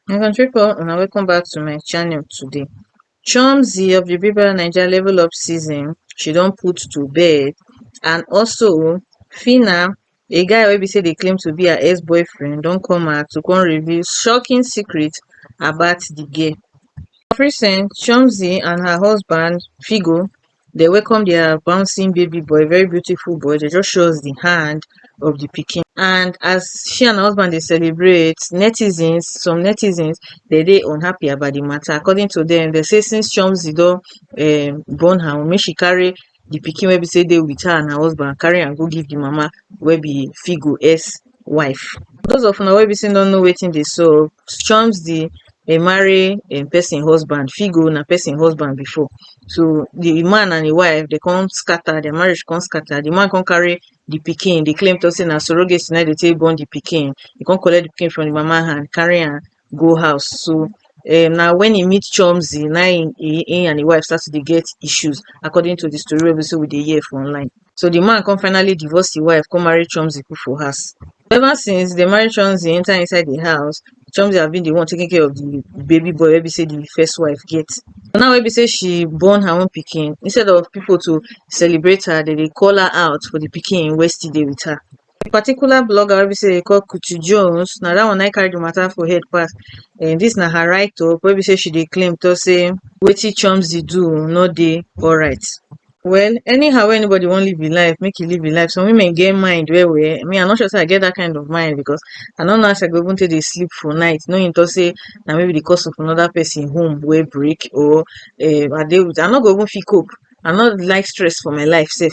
My country people, una welcome back to my channel today. Chomzy of the Big Brother Naija Level Up season, she don put to bed and also Phyna A guy wey be say dey claim to be her ex boyfriend don come out to come reveal shocking secret about the girl. Of recent, Chomzy and her husband Figo dey welcome their bouncing baby boy, very beautiful boy, dey just show us the hand of the pikin and as she and her husband dey celebrate, netizens, some netizens dey dey unhappy about the matter according to them, dey say since Chomzy don um born her own make she carry the pikin wey be sey dey with her and her husband carry am go give the mama wey be Figo S wife. Those of una wey be sey no know wetin dey sup o, Chomzy dey marry im person husband, Figo na person husband before, so the man and im wife dey come scatter, their marriage come scatter, the man come carry the pikin dey claim talk sey na surrogate na im dey take born the pikin, e come collect the pikin from the mama hand carry am go house so um na when he meet chomzy na him he he and him wife start to dey get issues according to the story wey be sey we dey hear for online so the man come finally divorce him wife come marry chomzy put for house ever since they marry chomzy enter inside the house chomzy have been the one taking care of the baby boy wey be sey the first wife get but now wey be sey she born her own pikin instead of people to celebrate her they dey call her out for the pikin wey still dey with her The particular blogger wey be sey dem call Kuti Jones, na that one na im carry the matter for head pass. um Dis na her write up wey be sey she dey claim talk sey wetin Chomz dey do oh no dey alright. Well, anyhow wey anybody wan live im life, make e live im life. Some women get mind well well. Me I no sure sey I get that kind of mind because I no know how I go even take dey sleep for night knowing talk sey na me be the cause of another person home wey break or um I dey with I no go even fit cope. I no like stress for my life self.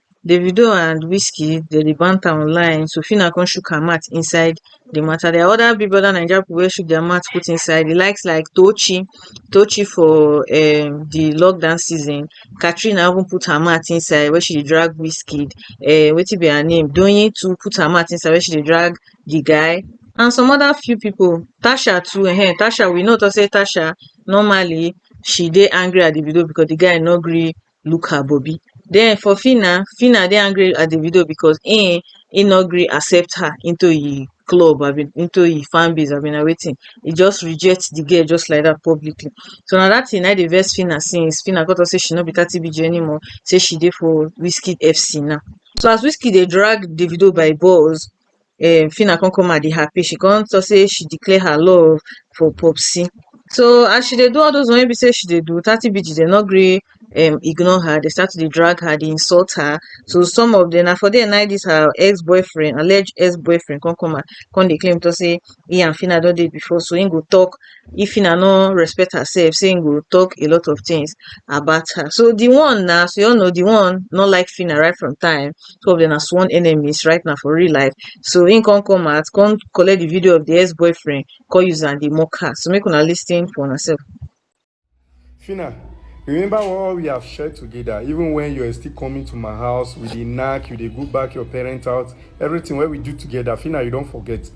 Davido and Wizkid dem dey banter online, so Phyna come shook her mouth inside the matter. There are other Big Brother Naija people wey shook their mouth put inside. The likes like Tochi, Tochi for um, the lockdown season. Katrina even put her mouth inside where she dey drag Wizkid. Uh, wetin be her name? Doyin too put her mouth inside where she dey drag the guy. And some other few people. Tasha too, eh, Tasha, we know to say Tasha, normally, she dey angry at Davido because the guy no gree look her bobby den for phyna phyna dey angry at davido because im im no gree accept her into im club abi into im fan base abi na wetin e just reject di girl just like dat publicly so na dat tin na im dey vex phyna since phyna come talk say she no be thirty bg anymore say she dey for wizkid FC now so as wizkid dey drag davido by balls um phyna come come out dey happy she come talk say she declare her love for popsi so as she dey do all those one wey be say she dey do thirty BG dem no gree um ignore her dey start to dey drag her dey insult her so some of dem na for there nai this her ex boyfriend alleged ex boyfriend come come out come dey claim talk say he and phyna don dey before so him go talk if Phyna no respect herself say he go talk a lot of things about her so the one now so you all know the one no like Phyna right from time two of them are sworn enemies right now for real life so he can't come out can't collect the video of the ex-boyfriend call user and the mock her so make una listen for yourself Fina, remember all we have shared together, even when you are still coming to my house with the knack, you dey go back your parents' house, everything wey we do together, Fina, you don forget.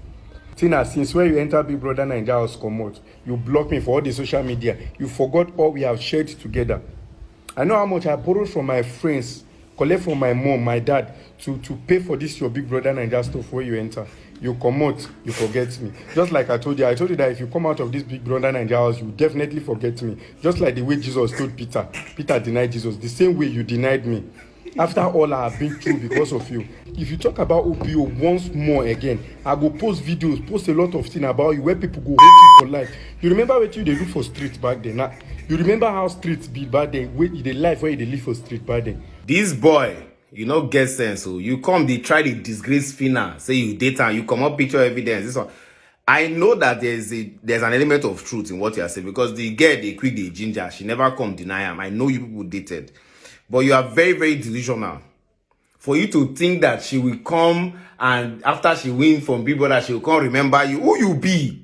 Tina, since when you enter Big Brother Naija house comot, you block me for all the social media, you forgot all we have shared together. I know how much I borrowed from my friends Collect from my mum, my dad to to pay for this your big brother Naija stuff wey you enter. You comot, you forget me. Just like I told you, I told you that if you come out of this big brother Naija house, you definitely forget me. Just like the way Jesus told Peter, Peter denied Jesus. The same way you denied me. After all I have been through because of you. If you talk about OPO once more again, I go post videos, post a lot of things about you where people go hate you for life. You remember what you dey do for street back then? Na you remember how streets be back then wey e dey life wey e dey live for street back then. this boy you no get sense o oh. you come dey try dey disgrace fina say you date am you comot picture evidence this one i know that there is a there is an element of truth in what you are saying because the girl dey quick dey ginger she never come deny am i know you people dated but you are very very delusional for you to think that she will come and after she win from big brother she will come remember you who you be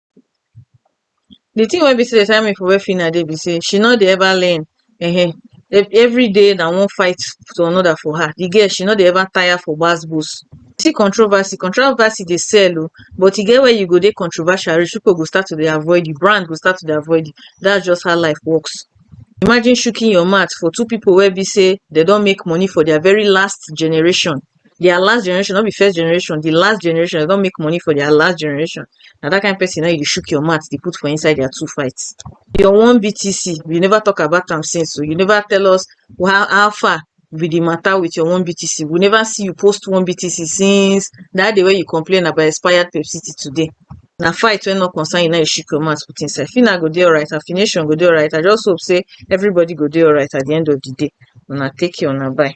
the thing wey be sey dey tire me for where Phyna dey be sey she no dey ever learn um everyday na one fight to another for her the girl she no dey ever tire for gbas gbos see controversy, controversy dey sell o but e get where you go dey controversial reach people go start to dey avoid you brand go start to dey avoid you that's just how life works imagine shooking your mouth for two people wey be sey dem don make money for their very last generation their last generation, not be first generation, the last generation, they don't make money for their last generation. Now that kind of person, now you shook your mouth, they put for inside their two fights. Your one BTC, you never talk about them since, so you never tell us how, how far with the matter with your one BTC. We never see you post one BTC since that day where you complain about expired Pepsi today. na fight wey no concern you now you shake your mouth put inside fina go dey alright her fination go dey alright i just hope say everybody go dey alright at the end of the day una take care una bye